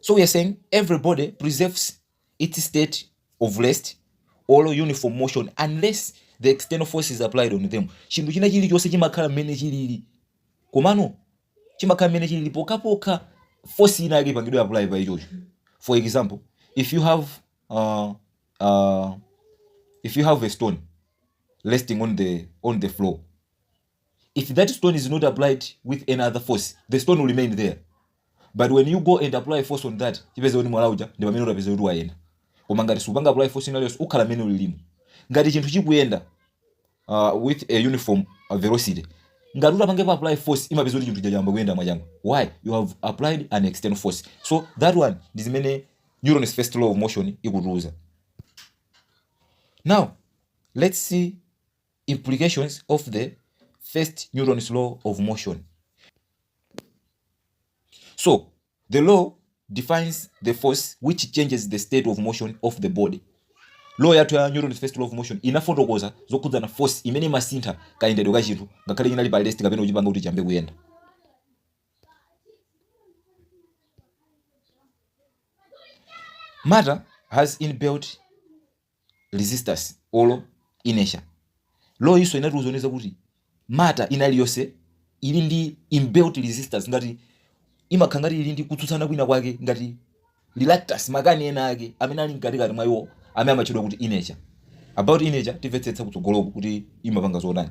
So we are saying everybody preserves its state of rest or uniform motion unless the external force is applied on them. Chinthu china chilichonse chimakhala mmene chilili. Komano chimakhala mmene chilili pokapoka force ina yake ipangidwe apply pa ichocho. For example, if you have uh, uh, if you have a stone resting on the on the floor if that stone is not applied with any other force the stone will remain there but when you go and apply force on that uzipeza kuti mwala uja ndi pamene utapeze kuti wayenda koma ngati supanga apply force ina iliyonse ukhala mene ulilimo ngati chinthu chikuyenda uh, with a uniform uh, velocity ngati utapange apply force umapeza kuti chinthu chayamba kuyenda mwachangu why you have applied an external force so that one ndi zimene newton's first law of motion ikutiuza now let's see Implications of the First Newton's Law of Motion So, the law defines the force which changes the state of motion of the body. Law yathu ya Newton's first law of motion inafotokoza zokhudzana force imene imasintha kayendedwe ka chinthu ngakhale inali pa rest kapena kuchipanga kuti chiyambe kuyenda. Matter has inbuilt resistance or inertia. Law iyinso inatiuzanso kuti matter ina iliyonse ili ndi inbuilt resistance ngati imakhala ngati ili ndi kutsutsana kwina kwake ngati reluctance makani ena ake amene ali mkatikati mwa iwo amene amatchedwa kuti inertia. About inertia timvetsetsa kutsogoloku kuti imapanga zotani.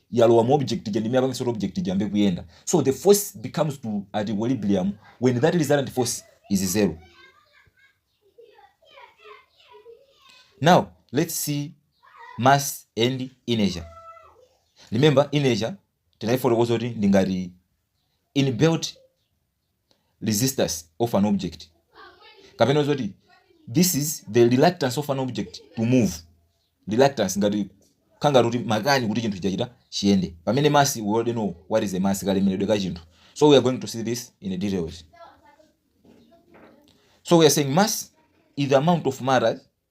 yalowa mu object ija ndi imene imapangitsa kuti object ija iyambe kuyenda so the force becomes to at equilibrium when that resultant force is zero now let's see mass and inertia remember inertia tinaifotokoza kuti ndi ngati inbuilt resistance of an object kapena zoti this is the reluctance of an object to move reluctance ngati kaya ngati kuti makani kuti chinthu chachita chiyende pamene mass we already know what is the mass kalemeredwe ka chinthu so we are going to see this in details so we are saying mass is the amount of matter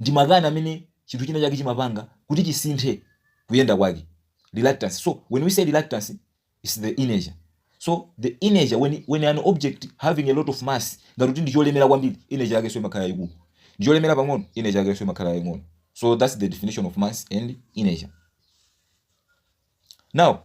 Ndi makani amene chinthu china chake chimapanga kuti chisinthe kuyenda kwake. Reluctance. So, when we say reluctance, it's the inertia. So, the inertia, when, when an object having a lot of mass, ngati kuti ndi cholemera kwambiri, inertia yakenso imakhala yayikulu. Ndi cholemera pang'ono, inertia yakenso imakhala yaying'ono. So, that's the definition of mass and inertia. Now,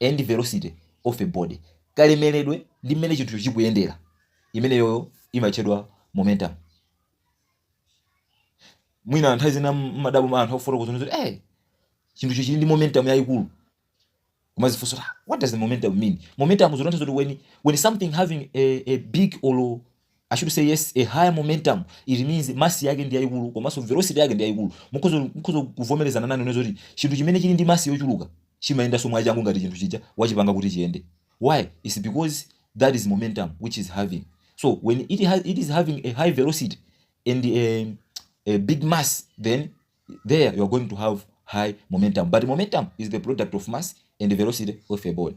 and velocity of a body kalemeredwe ndi mmene chinthucho chikuyendera imeneyoyo imatchedwa momentum mwina nthawi zina mmadabwa anthu akufotokoza kuti eh chinthucho chili ndi momentum yayikulu kumazifunsa "Ah, what does the momentum mean momentum zikutanthauza kuti when, when something having a, a big or I should say yes a higher momentum it means mass yake ndi yayikulu komanso velocity yake ndi yayikulu mukhoza mukhoza kuvomerezana nane ine zoti chinthu chimene chili ndi mass yochuluka chimayendanso mwachangu ngati chinthu chija wachipanga kuti chiyende why it's because that is momentum which is having so when it, has, it is having a high velocity and a, a big mass then there you are going to have high momentum because momentum is the product of mass and the velocity of a body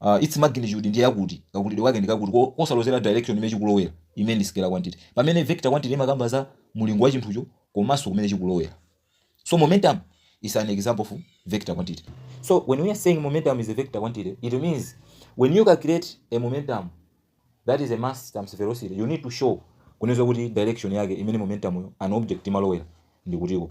uh, its magnitude ndi yakuti kakulidwe kwake ndi kakuti ko- kosalozera direction imene chikulowera imene ndi scalar quantity pamene vector quantity imakamba za mulingo wa chinthucho komanso kumene chikulowera so momentum is an example of vector quantity so when we are saying momentum is a vector quantity it means when you calculate a momentum that is a mass times velocity you need to show kuonetsa kuti direction yake imene momentum yo an object imalowera ndi kutiko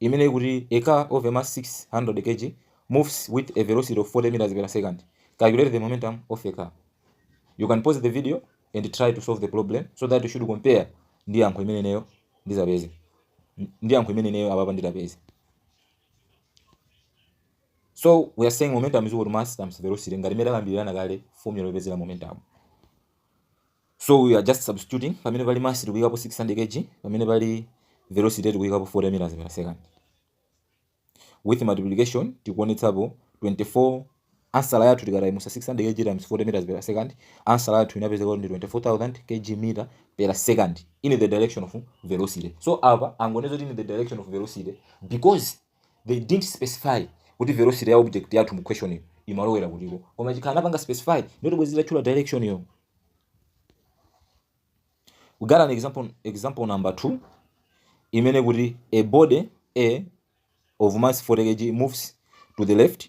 imene ikuti a car of a mass 600 kg moves with a velocity of 40 meters per second. Calculate the momentum of a car. You can pause the video and try to solve the problem so that you should compare ndi yankho imene ineyo nditapeze ndi yankho imene ineyo apapa nditapeze. So we are saying momentum is equal to mass times velocity ngati imene takambirana kale formula yopezera momentum. so we are just substituting pamene pali mass tikuyikapo 600 kg pamene pali velocity tikuyikapo 40 meters per second with multiplication tikuonetsapo 24 answer yathu tikatayimusa 600 kg times 40 meters per second answer yathu inapezeka ndi 24000 kg meter per second in the direction of velocity so apa tangonena kuti in the direction of velocity because They didn't specify kuti velocity ya object yathu mu question yo imalowera kutiko. Koma chikakhala anapanga specify ndiye kuti bwenzi tatchula direction yo. We got an example example number 2 imene ikuti a body A of mass 40 kg moves to the left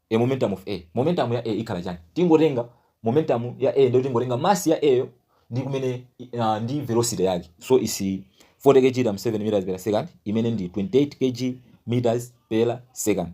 e Momentum of A. Momentum ya A ikhala chani? Tingotenga Momentum ya A ndiyo tingotenga mass ya A yo ndi kumene ah, ndi velocity yake. So it's 40 kg times 7 meters per second imene ndi 28 kg meters per second.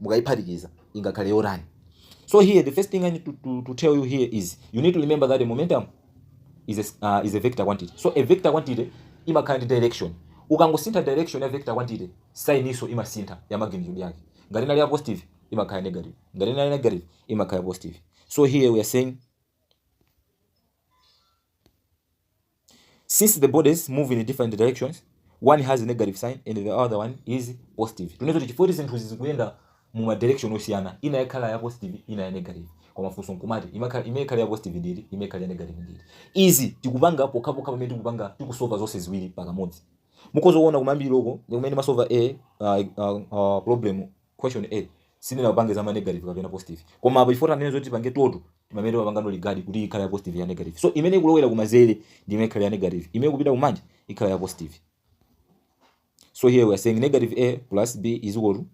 mukayiphatikiza ingakhale yotani so here the first thing i need to, to, to tell you here is you need to remember that a momentum is a, uh, is a vector quantity so a vector quantity imakhala ndi direction ukangosintha direction ya vector quantity sign-nso imasintha ya magnitude yake ngati inali ya positive imakhala negative ngati inali negative imakhala positive so here we are saying Since the bodies move in different directions, one has a negative sign and the other one is positive. Tikunena zoti chifukwa zinthu zikuenda mu ma direction osiyana, ina yakhala ya positive, ina ya negative. Koma funso nkumati imakhala imene ikhala ya positive ndi iti, imene ikhala ya negative ndi iti. Izi tikupanga pokha pokha pamene tikupanga tikusolva zonse ziwiri pakamodzi. Mukhoza kuona kumayambiriro uko ndikumene timasolva a uh, uh, uh, problem Question a Sindinapange za ma negative kapena positive koma apa chifukwa tikunena zoti tipange total timamene timapangano regard kuti ikhale ya positive ya negative so imene ikulowera kumazere ndi imene ikhala ya negative imene ikupita kumanja ikhala ya positive so here we are saying negative a plus b is equal to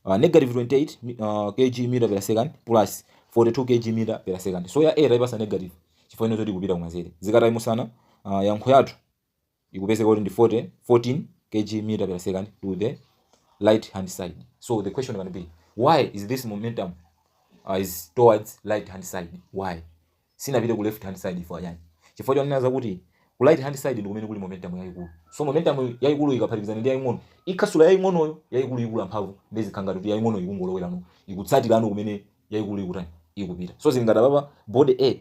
uh, negative 28 mi- uh, kg meter per second plus 42 kg meter per second so ya a taipatsa negative chifukwa chonena zoti ikupita kumazere tikatayimusana uh, yankho yathu ikupezeka kuti ndi 40 14 kg meter per second to the right hand side so the question can be why is this momentum uh, is towards right hand side why sinapita ku left hand side chifukwa chani chifukwa chonena zakuti ku right hand side ndi kumene kuli momentum yayikulu so momentum yayikulu ikaphatikizana ndi yaying'ono ikhasula yaying'onoyo yayikulu ikula mphamvu nde zikupanga kuti yaying'ono ikungolowerano ikutsatirano kumene yayikulu ikutani ikupita so zili ngati apapa body a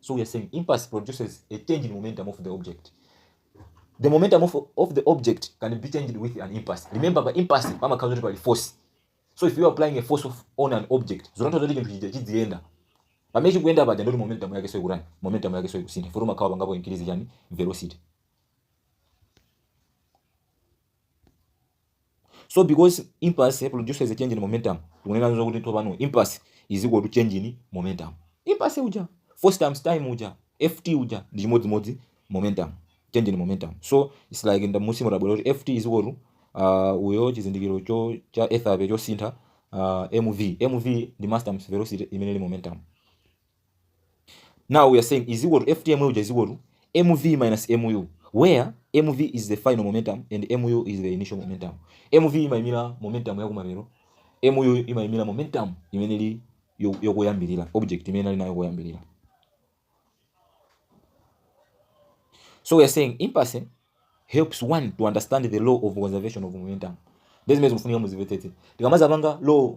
So we are saying impulse produces a change in momentum of the object. The momentum of, of the object can be changed with an impulse. Remember, the impulse mama comes by force. So if you are applying a force of, on an object, zonto zoti chinthu chija chidziyenda. Pamene chikuyenda paja ndoti momentum yake soikurani, momentum yake soikusintha. Futi umakhawa pangapo increase chani velocity. so because impulse produces a change in momentum tikunena zakuti tsopano impulse is equal to change in momentum impulse uja force times time uja ft uja ndi chimodzimodzi momentum change in momentum so it's like m'musimu tabwera kuti ft is equal to uh, icho chizindikirocho cha ethape chosintha uh, mv mv ndi mass times velocity imene ili momentum now we are saying is equal to ft uja is equal to mv minus mu where mv is the final momentum and mu is the initial momentum mv imayimira momentum yakumathero mu imayimira momentum imene ili yo- yokoyambirira object imene ali nayo koyambirira so we are saying impulse helps one to understand the law of conservation of momentum nde zimene zikufunika muzimvetsetse tikamazapanga law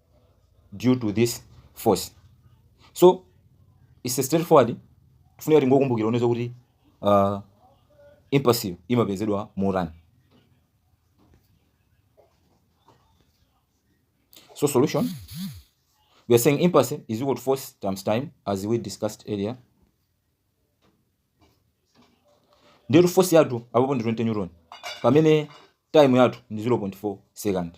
due to this force so it's a straightforward tikufunika tingokumbukira kunena kuti uh, impulse imapezedwa motani so solution we are saying impulse is equal to force times time as we discussed earlier ndiyetu force yathu apapo ndi 20 newton pamene time yathu ndi 0.4 second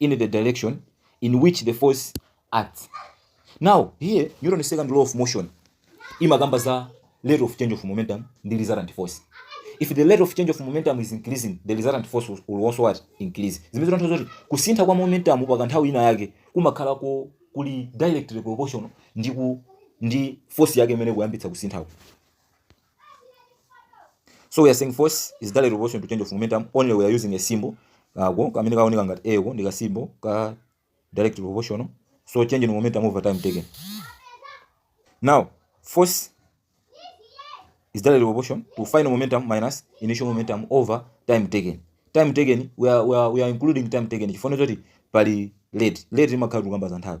in the direction in which the force acts now here newton's second law of motion imakamba za rate of change of momentum ndi resultant force if the rate of change of momentum is increasing the resultant force will also what increase zimene zikutanthauza zoti kusintha kwa momentum pa kanthawi ina yake kumakhala ko kuli directly proportional ndi ku ndi force yake imene ikuyambitsa kusinthako so we are saying force is directly proportional to change of momentum only we are using a symbol kako kamene kaoneka ngati a ko ndi ka symbol ka direct proportional so change in momentum over time taken now force is directly proportional to final momentum minus initial momentum over time taken time taken we are, we are, we are including time taken chifukwa choti pali late late imakhala tikukamba za nthawi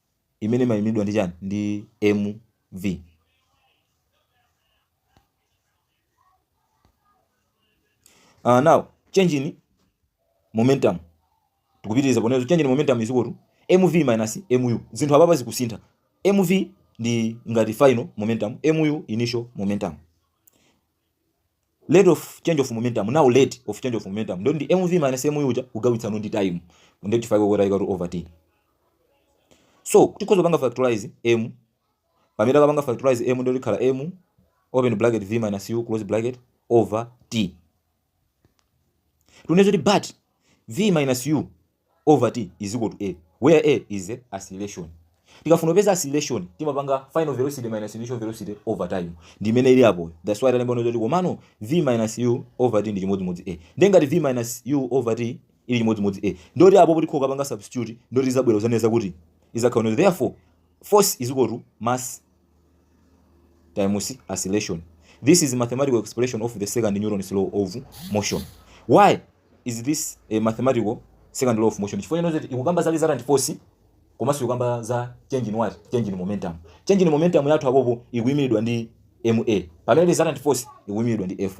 imene imayimiridwa ndi chani? Ndi mv. Uh, now change in momentum tikupitiriza poneno change in momentum is equal to mv minus mu. Zinthu apapa zikusintha. mv ndi ngati final momentum, mu initial momentum. rate of change of momentum now rate of change of momentum ndiye ndi mv minus mu uja kugawitsano ndi time ndi chifukwa chake tayika kuti over t so tikhoza kupanga factorize m pamene takapanga factorize m ndiye kuti ikhala m open bracket v minus u close bracket over t tikunena zoti but v minus u over T is equal to A where A is the acceleration. Tikafuna kupeza acceleration timapanga final velocity minus initial velocity over time. Ndi imene ili apo. That's why talemba kuti komano V minus U over T ndi chimodzimodzi A. Ndiye ngati V minus U over T ili chimodzimodzi A. Ndiye kuti apopo tikakapanga substitute ndiye kuti izabwera kuzanena kuti izakhala kuti therefore force is equal to mass times acceleration this is mathematical expression of the second newton's law of motion why is this a mathematical second law of motion chifukwa choti ikukamba za resultant force komanso ikukamba za change in what change in momentum change in momentum yathu apopo ikuyimiridwa ndi ma pamene resultant force ikuyimiridwa ndi f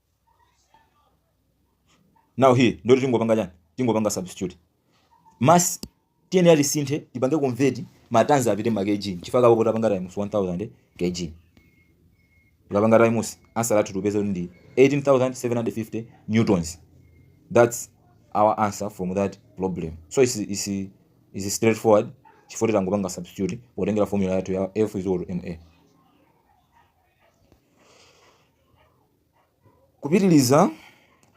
now here ndiye kuti tingopanga chani tingopanga substitute mass tiyenera tisinthe tipange convert ma tons apite ma kg chifukwa chake apo tapanga times 1000 kg tikapanga times answer yathu tupeza kuti ndi 18750 newtons that's our answer from that problem so it's, it's, it's straightforward chifukwa tangopanga substitute potengera formula yathu ya f is equal to ma Kupitiliza,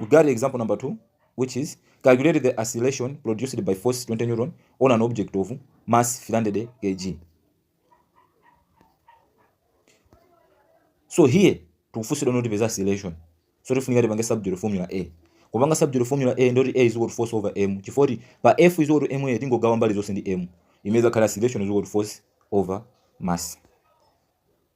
we got example number 2 which is calculate the acceleration produced by force 20 newton on an object of mass 300 kg. So here tikufunsidwa kuti tipeze acceleration. So tifunika tipange substitute formula A. Kupanga substitute formula A ndiye kuti A is equal to force over m. Chifukwa kuti pa F is equal to ma tingogawa mbali zonse ndi m. Imene izakhala acceleration is equal to force over mass.